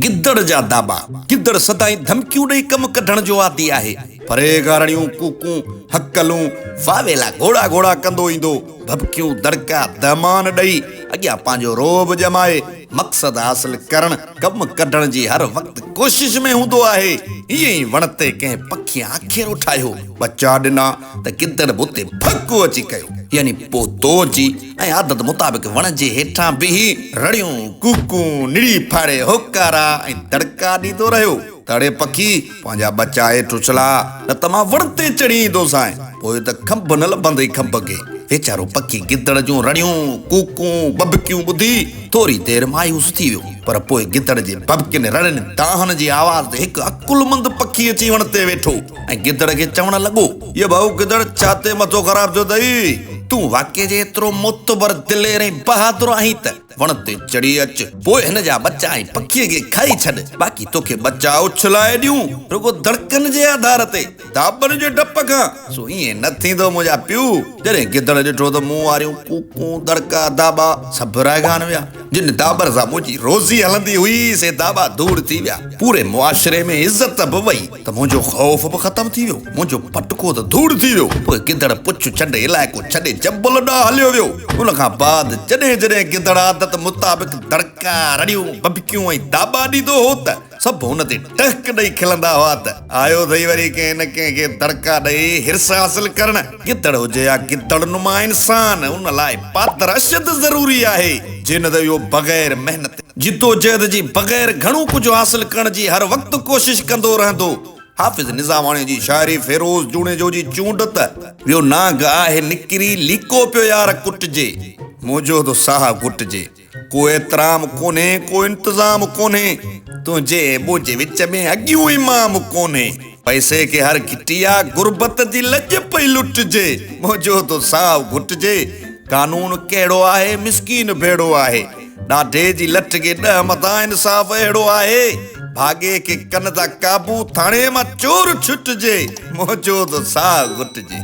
گدڙ جا داٻا، گدڙ سدائين ڌمڪيون ڏئي ڪم ڪڍڻ جو عادي آهي. پريگارڻيون، ڪوڪون، هڪلون، واويلا گهوڙا گهوڙا ڪندو ايندو، ڀڀڪيون، دڙڪا، دهمان ڏئي اڳيان پنهنجو رعب ڄمائي مقصد حاصل ڪرڻ، ڪم ڪڍڻ جي هر وقت ڪوشش ۾ هوندو آهي. ائين ئي وڻ تي ڪنهن پکي آکيرو ٺاهيو، ٻچا ڏنا ته گدڙ به اتي ڀڙڪو اچي ڪيو، يعني پوتو اچي ۽ عادت مطابق وڻ جي هيٺان بيهي رڙيون، ڪوڪون، نڙي ڦاڙي هوڪارا ۽ دڙڪا ڏيندو رهيو ته اڙي پکي پنهنجا ٻچا هيٺ اڇلا نه ته مان وڻ تي چڙهي ايندوسانء، پوء ته کنڀ نه لڀندئي کنڀ کي. ويچارو پکي گدڙ جون رڙيون، ڪوڪون، ٻڀڪيون ٻڌي ٿوري دير مايوس ٿي ويو، پر پوء گدڙ جي ٻڀڪين رڙين دانهن جي آواز تي هڪ عقلمند پکي اچي وڻ تي ويٺو ۽ گدڙ کي چوڻ لڳو. يا ڀائو گدڙ ڇا تي مٿو خراب ٿيو اٿئي؟ تون واقعي جي ايترو معتبر، دلير ۽ بهادر آهين ته وڻ تي چڙهي اچ، پوء هن جا ٻچا ۽ پکي کي کائي ڇڏ، باقي توکي ٻچا اڇلائي ڏيون، رڳو دڙڪن جي آڌار تي، داٻن جي ڊپ کان، سو ائين نه ٿيندو منهنجا پيو! جڏهن گدڙ ڏٺو ته مون واريون ڪوڪون، دڙڪا، داٻا سڀ رهگان ويا. جن داٻن سان منهنجي روزي هلندي هئي، سي داٻا ڌوڙ ٿي ويا. پوري معاشري ۾ عزت به وئي. ته منهنجو خوف به ختم ٿي ويو، منهنجو پٽڪو ته ڌوڙ ٿي ويو. پوء گدڙ پڇ چنڊ علائقو ڇڏي جبل ڏانهن هليو ويو. ان کان بعد جڏهن جڏهن گدڙ عادت مطابق دڙڪا، رڙيون، ٻٻڪيون ۽ داٻا ڏيندو هو ته سڀ هن تي ٽهڪ ڏئي کلندا هئا ته، آيو اٿئي وري ڪنهن نه ڪنهن کي دڙڪا ڏئي حرص حاصل ڪرڻ. گدڙ هجي يا گدڙ نما انسان ان لاء پادر اشد ضروري آهي جي نه ته اهو بغير محنت، جدوجهد جي بغير گهڻو ڪجهه حاصل ڪرڻ جي هر وقت ڪوشش ڪندو رهندو. حافظ نظاماڻي جي شاعري فيروز جوڻيجو جي چونڊ ته ويو نانگ آهي نڪري ليڪو پيو يار ڪٽجي منهنجو ته ساهه گهٽجي. ڪو احترام ڪونهي ڪو انتظام ڪونهي. تنهنجي ۽ منهنجي وچ ۾ اڳيون امام ڪونهي. پئسي کي هر گهٽي آ غربت جي لڄ پئي لٽجي. منهنجو ٿو ساهه گهٽجي. قانون ڪهڙو آهي مسڪين ڀيڙو آهي. ڏاڍي جي لٺ کي ڏهه مٿان انصاف اهڙو آهي. ڀاڳي کي ڪن ٿا قابو ٿاڻي مان چور ڇٽجي. منهنجو ٿو ساهه گهٽجي.